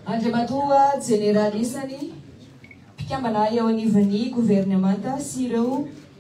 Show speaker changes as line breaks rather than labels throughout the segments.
Andriamatoa Jeneraly Isany, mpikambana eo anivon'ny governemanta sy ireo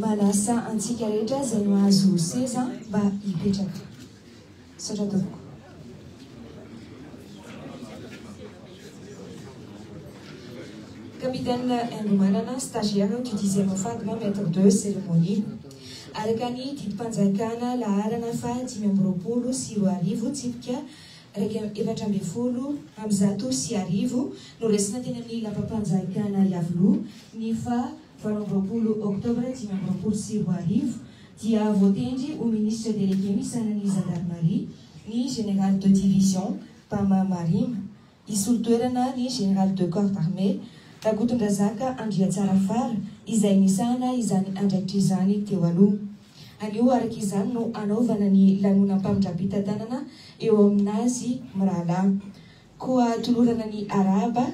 Manasa antsika rehetra izay mahazo seza mba hipetraka. Misaotra tompoko. Capitaine Engo Manana, stagiaire du dixième FADM, maître de cérémonie. Araka ny didim-panjakana laharana fahadimy amby roapolo sy roa arivo, tsipika iraika amby efatra ambin'ny folo amby zato sy arivo, noraisina teny amin'ny Lapam-panjakana Iavoloha ny faha valo amby roapolo Oktobra dimy amby roapolo sy roa arivo, dia voatendry ho Ministre Délégué misanan'ny Zandarimaria ny Général de Division Bama Marima. Hisolo toerana ny Général de Corps d'Armée Rakotondrazaka Andriatsarafara izay nisahana izany andraikitra izany teo aloha. Anio araka izany no hanaovana ny lanonam-pamindram-pitantanana eo amin'azy mirahalahy. Koa tolorana ny arahaba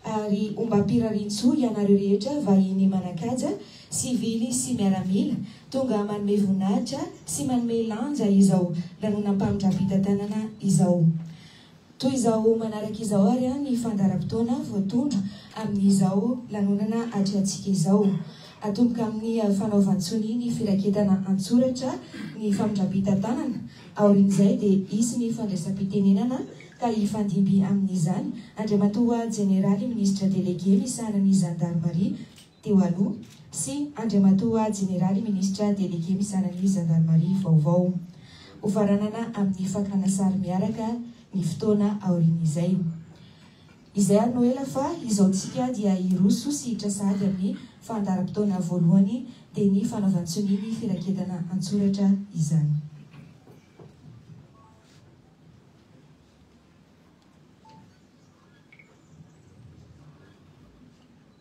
ary ombam-pirarian-tsoa ianareo rehetra vahiny manan-kaja, sivily sy miaramila, tonga manome voninahitra sy manome lanja izao lanonam-pamindram-pitantanana izao. Toy izao manaraka izao ary ny fandaharam-potoana voatondro amin'izao lanonana atrehantsika izao. Atomboka amin'ny fanaovan-tsonia ny firaketana an-tsoratra ny famindram-pitantanana. Aorian'izay dia hisy ny fandraisam-pitenenana ka hifandimby amin'izany Andriamatoa Jeneraly Minisitra Delege misahana ny Zandarimaria, teo aloha, sy Andriamatoa Jeneraly Minisitra Delege misahana ny Zandarimaria vaovao. Hofaranana amin'ny fakana sary miaraka ny fotoana aorian'izay. Izay ary no ela fa izao tsika dia hiroso sy hiditra sahady amin'ny fandaharam-potoana voalohany dia ny fanaovan-tsonia ny firaketana an-tsoratra izany.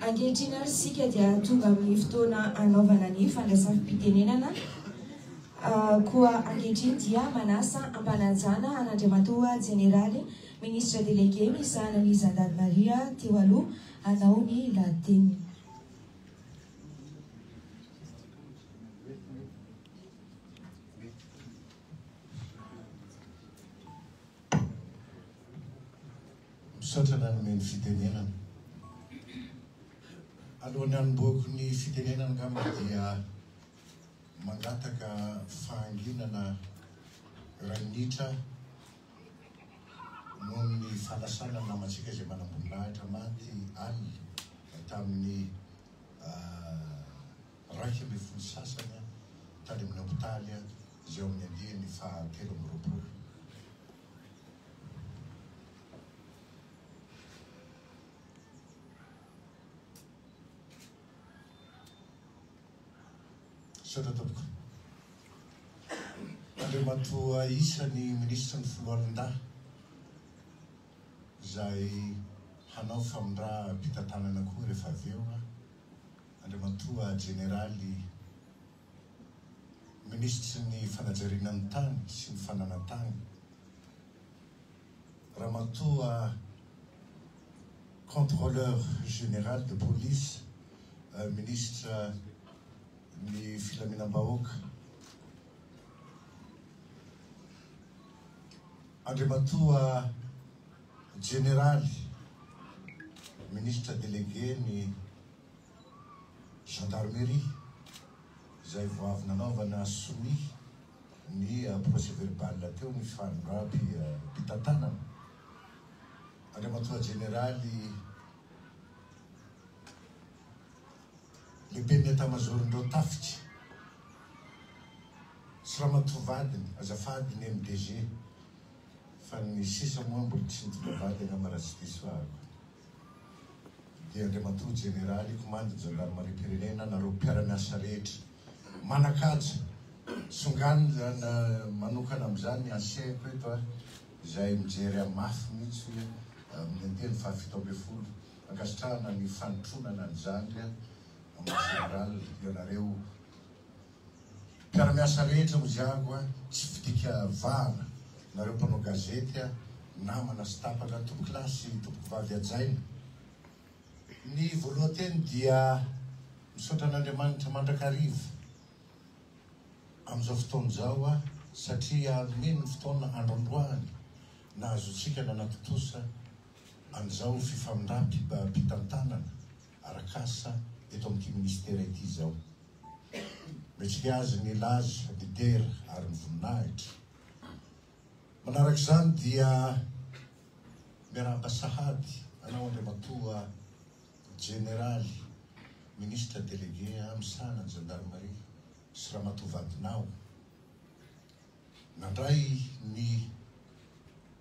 Ankehitriny ary isika dia tonga amin'ny fotoana anaovana ny fandraisam-pitenenana. Koa ankehitriny dia manasa ampanajana an'Andriamatoa Jeneraly Ministra Delege misahana ny Zandarimaria teo aloha hanao ny lahateniny.
Misaotra nanome ny fitenenana. Alohan'ny hanombohako ny fitenenana angamba dia mangataka fahanginana rainitra noho ny fanasana ny namantsika izay manamboninahitra maty alina tamin'ny iraika ambin'ny folo sasany tany amin'ny hopitaly izay ao amin'ny andiany faha telo amby roapolo. Misaotra tompoko. Andriamatoa isan'ny minisitry ny Foloalindahy izay hanao famindram-pitantanana koa rehefa avy eo. Andriamatoa Jeneraly Minisitry ny Fanajariana ny Tany sy ny Fananan-tany, Ramatoa Contrôleur Général de Police, Minisitra ny Filaminam-bahoaka, Andriamatoa Jeneraly Minisitra Délégué ny. Gendarmerie izay vao avy nanaovana sonia ny procès verbal teo ny fanondram-pitantanana. Andriamatoa Jeneraly Lehiben'ny Etamazaoron'ireo Tafika sy Ramatoa vadiny, azafady ny MDG fa ny sisa moa mbola tsy nitonga vady angamba raha tsy diso ahako. dia Andriamatoa Jeneraly Komandin'ny Zandarimariam-pirenena, nareo mpiara-miasa rehetra. Manan-kaja, tsonganiny izany manokana amin'izany ny Aseco eto ary izay mijery amin'ny mafy mihitsy hoe amin'ny Anteny fahafito ambin'ny folo. Ankasitrahana ny fanotronana an'izany, Maha Jeneraly, ianareo. Mpiara-miasa rehetra hoziago a! Tsy fidika vava nareo mpanao gazety a! Namana sy tapaka tompokolahy sy tompokovavy hajaina! Ny voalohan-teny dia misaotra an'Andriamanitra mandrakariva amin'izao fotoana izao a! Satria nomeny ny fotoana androandroany nahazoantsika nanatontosa an'izao fifamindram-pitantanana. arak'asa eto amin'ity minisitera ity izao. Mendrika azy ny hilaza, midera ary mivoninahitra. Manaraka izany dia miarahaba sahady anao Andriamatoa Jeneraly Minisitra Delege misahana ny Zandarimaria sy Ramatoa vadinao nandray ny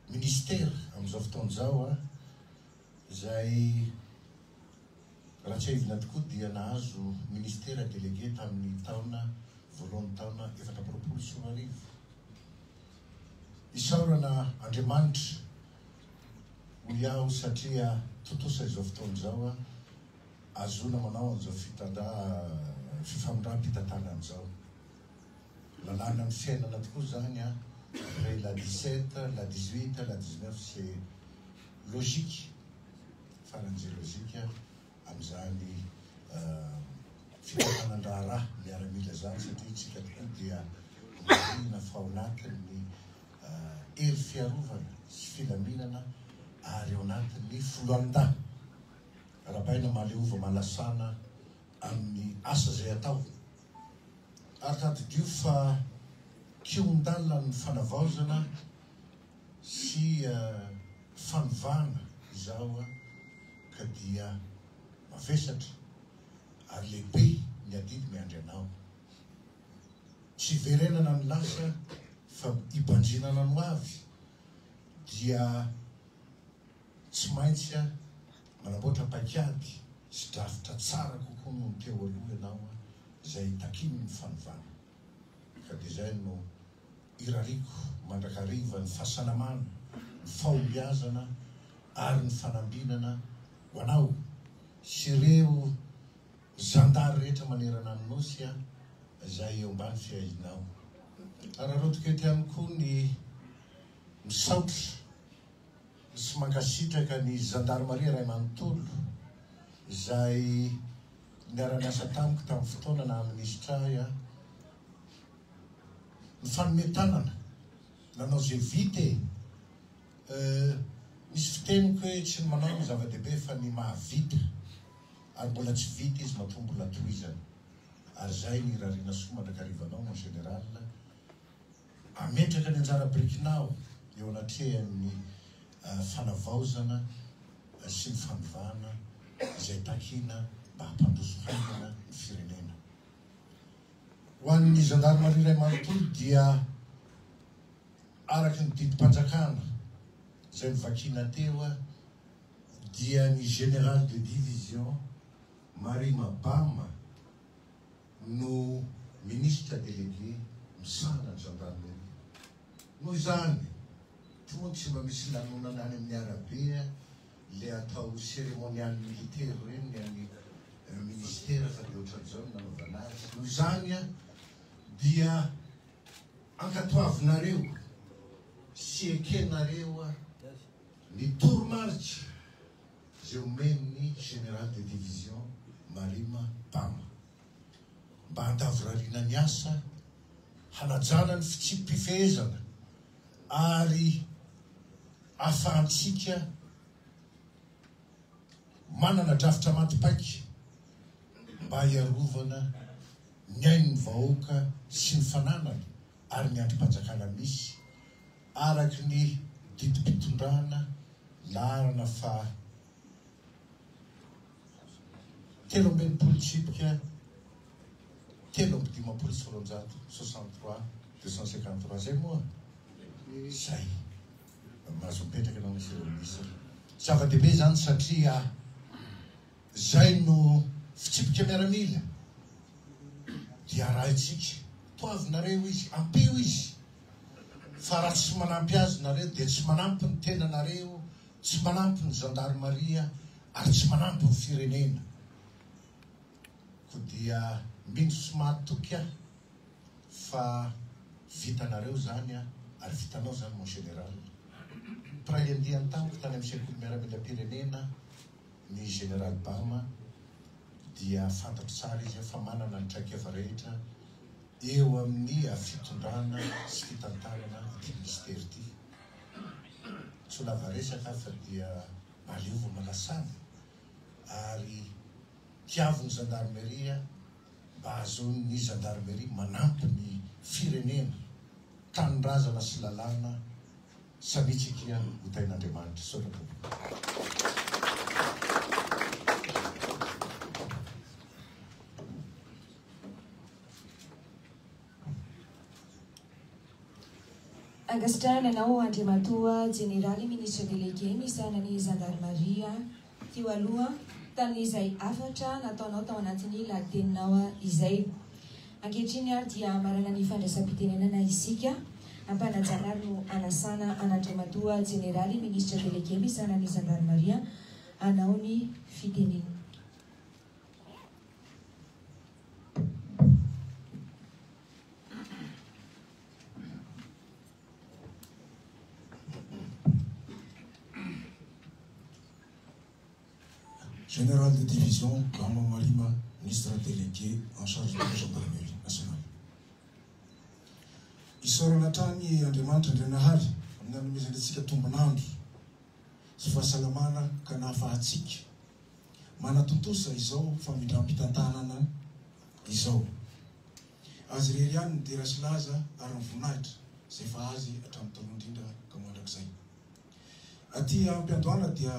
minisitera amin'izao fotoana izao. izay raha tsiahivina tokoa dia nahazo Ministera Délégué tamin'ny taona voalohan'ny taona efatra amby roapolo sy roa arivo. Isaorana Andriamanitra hoy aho satria tontosa izao fotoana izao ahazoana manao an'izao fitandra fifamindram-pitantanana izao. Lalàna ny fiainana tokoa zany an! Après la dix sept, la dix huit, la dix neuf c'est logique farany ze logique amzany fitafanan-draharaha miaramila zany satria tsika tokoa dia marihina fa ao anatin'ny hery fiarovana sy filaminana ary ao anatin'ny foloalindahy arabaina mahaleova mahalasana amin'ny asa zay atao. ary tadidio fa kihon-dalana ny fanavaozana sy fanovana izao ka dia mavesatra ary lehibe ny adidy miandry anao. Tsy hiverenana ny lasa fa hibanjinana ny ho avy dia tsy maintsy Manamboatra paikady sy drafitra tsara kokoa noho ny teo aloha ianao izay takiany ny fanovana. Ka dia izay no irariako mandrakariva ny fahasalamana, ny fahombiazana ary ny fanambinana ho anao sy ireo zandary rehetra manerana ny Nosy izay eo ambany fiahianao. Araraotiko eto ihany koa ny misaotra. sy mankasitraka ny Zandarimaria iray manontolo izay niara-niasa tamiko tamin'ny fotoana naha Minisitra ahy aho. Nifanome tanana, nanao izay vita e! Euh, misy fiteniko hoe tsy ny manao no zava-dehibe fa ny mahavita, ary mbola tsy vita izy matoa mbola tohizana. Ary izay ny irariana soa mandrakarivanao mon Général. Hametraka ny anjara birikinao eo anatrehan'ny fanavaozana sy ny fanovana izay takiana mba hampandroso haingana ny firenena. Ho an'ny zandarimaria iray manontolo dia araka ny didim-panjakana izay novakiana teo dia ny Général de Division Marie Mabama, no Ministra Délégué misahana ny Gendarmerie. Noho izany, toa tsy mba misy lanonana any amin'ny arabe le atao cérémonial militaire ireny ny an'ny Ministera fa dia ohatran'izao ny nanaovana azy. Noho izany dia ankatoavinareo sy ekenareo ny toromarika. izay omen'ny Général de Division Marima Pama, mba handavorariana ny asa hanajana ny fitsipi-pifehezana ary ahafahantsika manana drafitra maty paika mba hiarovana ny ain'ny vahoaka sy ny fananany ary ny andrim-panjakana misy Araka ny didim-pitondrana laharana faha telo amby enimpolo tsipika telo amby dimampolo sy roanjato, soixante trois deux cent cinquante trois, izay moa izay no mahazo mipetraka ianao Monsieur le Ministre. Zava-dehibe izany satria. Izay no fitsipika miaramila dia arahintsika. Toavy nareo izy, ampio izy fa raha tsy manampy azy nareo dia tsy manampy ny tenanareo, tsy manampy ny zandarimaria ary tsy manampy ny firenena. Koa dia mino sy mahatoky aho fa vitanareo izany ary vitanao izany mon general. Mpiray andiany tamiko tany amin'ny sekoly miaramilam-pirenena, Ny Général Bama dia fantatro tsara izy fa manana ny traik'eva rehetra eo amin'ny fitondrana sy fitantanana ity Minisitera ity. Tsy ho lava resaka aho fa dia aleo vao manasana ary tiavo ny Zandarmeria mba hahazoan'ny Zandarmeria manampy ny firenena, tanindrazana sy lalàna Salut Chiquinha ho tahin'Andriamanitra Misaotra tompoko.
Ankasitrahana anao Andriamatoa Jeneraly Minisitra Delege misahana ny Zandarimaria. teo aloha tamin'izay hafatra nataonao tao anatin'ny lahiteninao izay. Ankehitriny ary dia manana ny fandraisam-pitenenana isika, ampanajana ary no anasana an'Andriamatoa Jeneraly Minisitra Delege misahana ny Zandarimaria hanao ny fitenenany.
Général de division Gama Marima, Ministre Délégué en charge de la Gendarmerie Nationale. Isaorana hatrany Andriamanitra Andrianahary amin'ny nanomezany antsika tombon'andro sy fahasalamana ka nahafahantsika manatontosa izao famindram-pitantanana izao. Azy irery ihany ny dera sy laza ary ny voninahitra izay efa Azy hatramin'ny taloha indrindra ka ho mandrakizay. Aty am-piandohana dia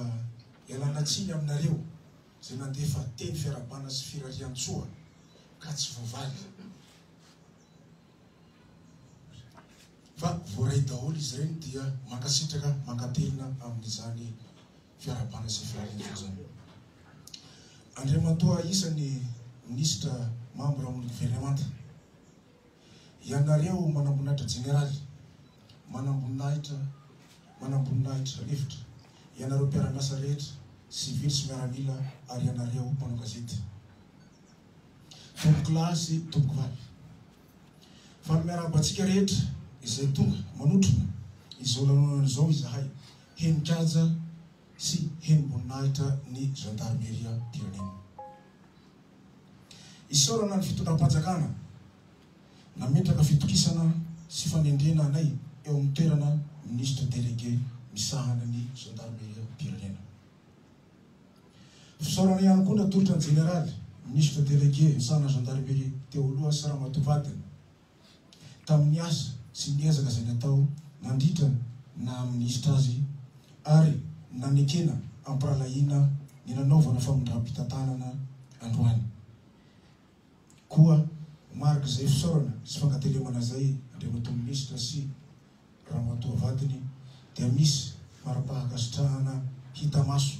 ialana tsiny aminareo izay nandefa teny fiarahabana sy firarian-tsoa ka tsy voavaly fa voaray daholo izy ireny dia mankasitraka mankatelina amin'izany fiarahabana sy fiara hivozana. Andriamatoa isan'ny Minisitra mambra amin'ny Governemanta, ianareo manamboninahitra jeneraly, manamboninahitra, manamboninahitra lefitra, ianareo mpiara-miasa rehetra, sivily sy miaramila ary ianareo mpanao gazety, tompokolahy sy tompokovavy. Fa miarahaba antsika rehetra izay tonga manotrona izao lanonana izao izahay. henin-kaja sy henim-boninahitra ny zandarimeriam-pirenena. Isaorana ny fitondram-panjakana nametraka fitokisana sy fanendrena anay eo amin'ny toerana Minisitra Delege misahana ny zandarimeriam-pirenena. Fisaorana ihany koa natolotra ny Jeneraly Minisitra Delege misahana ny Zandarimeria teo aloha sy Ramatoa vadiny, tamin'ny asa sy ny ezaka izay natao nandritra ny naha minisitra azy ary nanekena am-pirahalahiana ny nanaovana famindram-pitantanana androany. Koa mariky izay fisaorana sy fankatelemana izay Andriamatoa Minisitra sy Ramatoa vadiny dia misy mari-pahakasitrahana hita maso,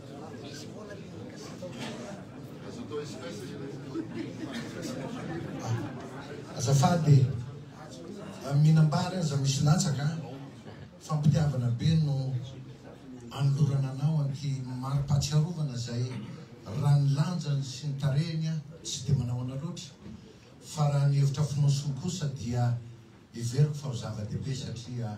Azafady e, mihinam-bary aza misy latsaka a! Fampitiavana be no anolorana anao an'ity mari-pahatsiarovana izay raha ny lanjany sy ny tarehiny aho tsy dia manahoana loatra fa raha ny hevitra fonosiny kosa dia heveriko fa ho zava-dehibe satria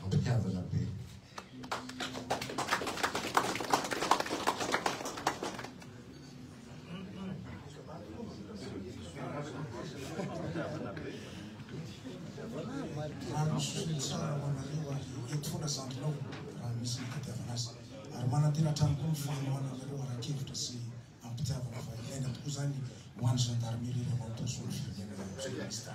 Mampitiavana be. Raha
misy feno tsara ho anareo ary eto foana zandrinao raha misy ny fitiavana azy. Ary manantena hatrany koa ny fanohananareo ara-kevitra sy Ampitiavana fa ilaina tokoa izany ho an'ny gendarmerie ilay mandoso ny firenena amin'izao Minisitra.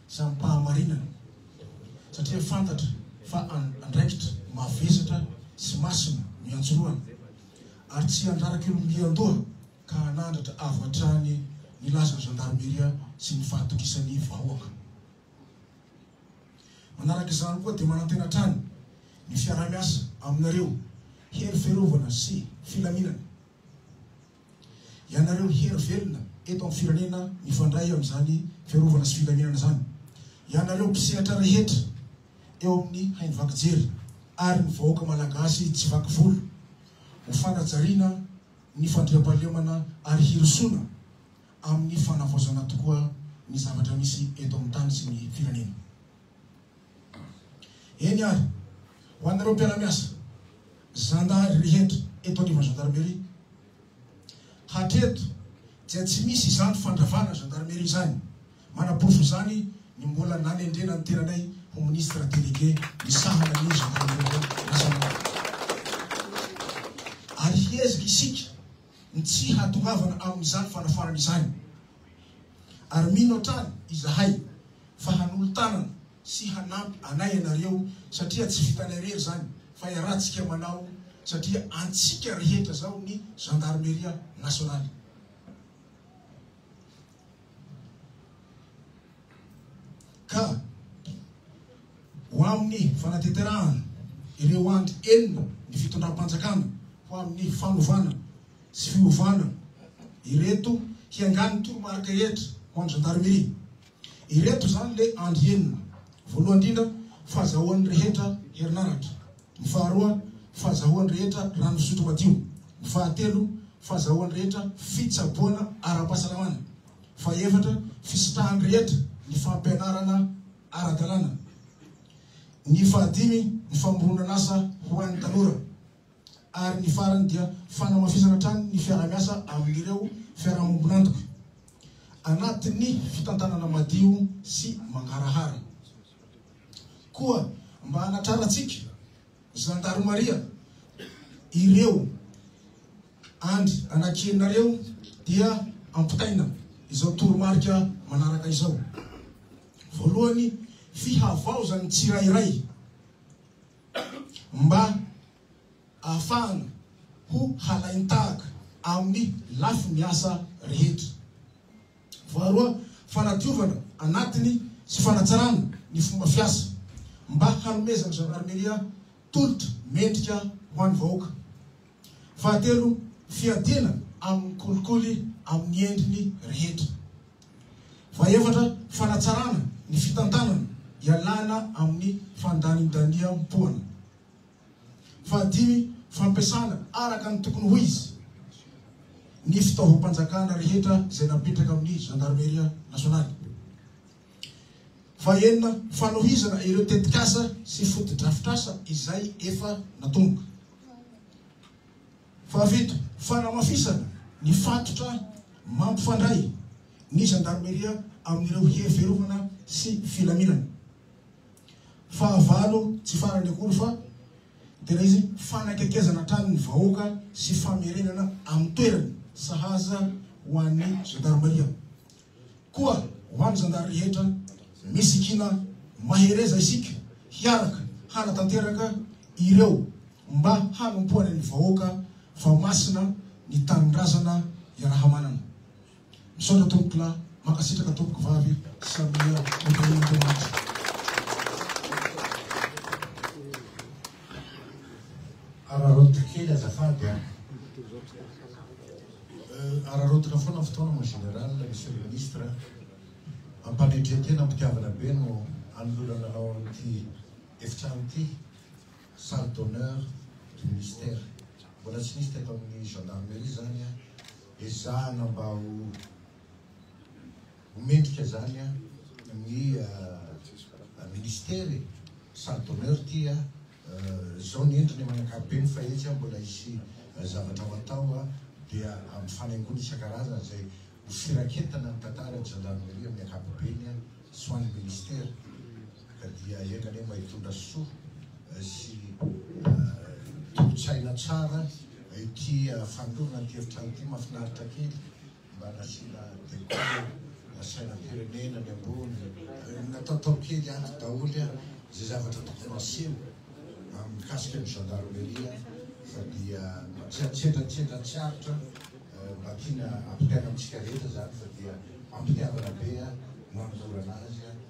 sy amim-pahamarinana, satria fantatra fa andraikitra mavesatra sy masina no iantsoroany, ary tsy handrara kiolom-bian-doha ka hanandratra avo hatrany ny lazan'ny Zandarmeria sy ny fahatokisan'ny vahoaka. Manaraka izany koa dia manantena hatrany ny fiaraha-miasa aminareo hery fiarovana sy filaminana. Ianareo hery velona eto amin'ny firenena mifandray amin'izany fiarovana sy filaminana izany, ianareo mpisehatra rehetra eo amin'ny haino vaky jery ary ny vahoaka Malagasy tsy vaky volo, ho fanajariana ny fandriampahalemana ary hirosoana amin'ny fanavaozana tokoa ny zavatra misy eto amin'ny tany sy ny firenena. Eny ary, ho an'ireo mpiara-miasa zandary rehetra eto anivon'ny Gendarmerie, hatreto dia tsy misy izany fandravana Gendarmerie izany, manaporofo izany ny mbola nanendrena ny tenanay ho Ministre Délégué misahana ny Gendarmerie Nationale. Ary hiezaka isika ny tsy hahatongavana amin'izany fanafarana izany. Ary mino hatrany izahay fa hanolo-tanana sy hanampy anay ianareo satria tsy vitanay irery izany fa iarahantsika manao satria antsika rehetra izao ny Zandarmeria Nasionaly. Ka ho amin'ny fanateterahana ireo andry enina ny fitondram-panjakana ho amin'ny fanovana sy fiovana ireto hiangan'ny toromarika rehetra ho an'ny Gendarmerie. Ireto izany le andry enina, voalohany indrindra, fahazahoan'ny rehetra herinaratra, ny faharoa, fahazahoan'ny rehetra rano fisotro madio, ny fahatelo, fahazahoan'ny rehetra fitsaboana ara-pahasalamana, fahaefatra, fisitrahan'ny rehetra ny fampianarana ara-dalàna, ny fahadimy, ny famoronan'asa ho an'ny tanora. ary ny farany dia fanamafisana hatrany ny fiarahamiasa amin'ireo fiarahamombon'antoka anatin'ny fitantanana madio sy mangarahara. Koa mba hanatrarantsika zandarimaria ireo andry anankienareo dia ampitaina izao toromarika manaraka izao. Voalohany, fihavaozan'ny tsirairay. mba ahafahana ho halain-tahaka amin'ny lafiny asa rehetra. Faharoa, fanadiovana anatiny sy fanatsarana ny fomba fiasa mba hanomezan'ny Zandarimeria tolotra mendrika ho an'ny vahoaka. Fahatelo, fiadiana amin'ny kolikoly amin'ny endriny rehetra. Fahaefatra, fanatsarana ny fitantanana ialana amin'ny fandanindaniam-poana. Fahadimy, fampiasana araka ny tokony ho izy ny fitaovam-panjakana rehetra izay napetraka amin'ny Zandarmeria Nasionaly. Fahaenina, fanohizana ireo tetikasa sy fotodrafitrasa izay efa natomboka. Fahafito, fanamafisana ny fatotra mampifandray ny zandarmeria amin'ireo hery fiarovana sy filaminana. Fahavalo, tsy farany akory fa tena izy, fanakekezana hatrany ny vahoaka sy famerenana amin'ny toerany sahaza ho an'ny zandarmeria. Koa ho an'ny zandary rehetra, misy kiana mahereza isika hiaraka hanatanteraka ireo mba hanompoany ny vahoaka fa masina ny tanindrazana iarahamanana. Misaotra tompokolahy, mankasitraka tompokovavy, samia hotahian'Andriamanitra. Araraoty
kely azafady an! Araraotina foana fotoana mon général, monsieur le ministre a! Ampanetren-tena am-pitiavana be no anolorana anao amin'ity efitrano ity, salle d'honneur du ministère. Mbola tsy nisy teto amin'ny gendarmerie izany a! Ezahana mba ho ho mendrika izany ny ministera e! Salle d'honneur ity a! Zao ny endriny amin'ny ankapobeny fa etsy mbola hisy zavatra ho atao dia amin'ny fanaingoana isan-karazany izay ho firaketana ny tantara ny Gendarmerie amin'ny ankapobeny sy ho an'ny Ministera ka dia enga anie mba hitondra soa sy tolo-tsaina tsara ity fanolorana ity efitrano ity mahafinaritra kely Mba nasiana decor na sainam-pirenena ny ambony. Natao tao kely ato daholo an izay zavatra tokony ho aseho amin'ny mikasika ny gendarmerie fa dia tsy an-tsendrantsendran tsy aritra mba tiana ampitaina amintsika rehetra izany fa dia ampitiavana be an no anolorana azy an.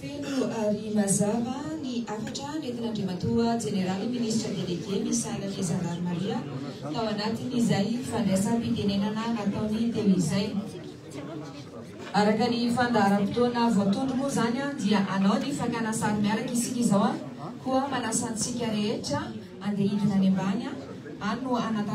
Feno ary mazava ny hafatra nentin'Andriamatoa Jeneraly Minisitra Delege Misaina Fiezandrano Maria tao anatin'izay fandraisam-pitenenana nataony teo izay. Araka ny fandaharam-potoana voatondro moa izany dia hanao ny fakana sary miaraka isika izao koa manasa antsika rehetra handeha hidina any ambany any no hanatanterahana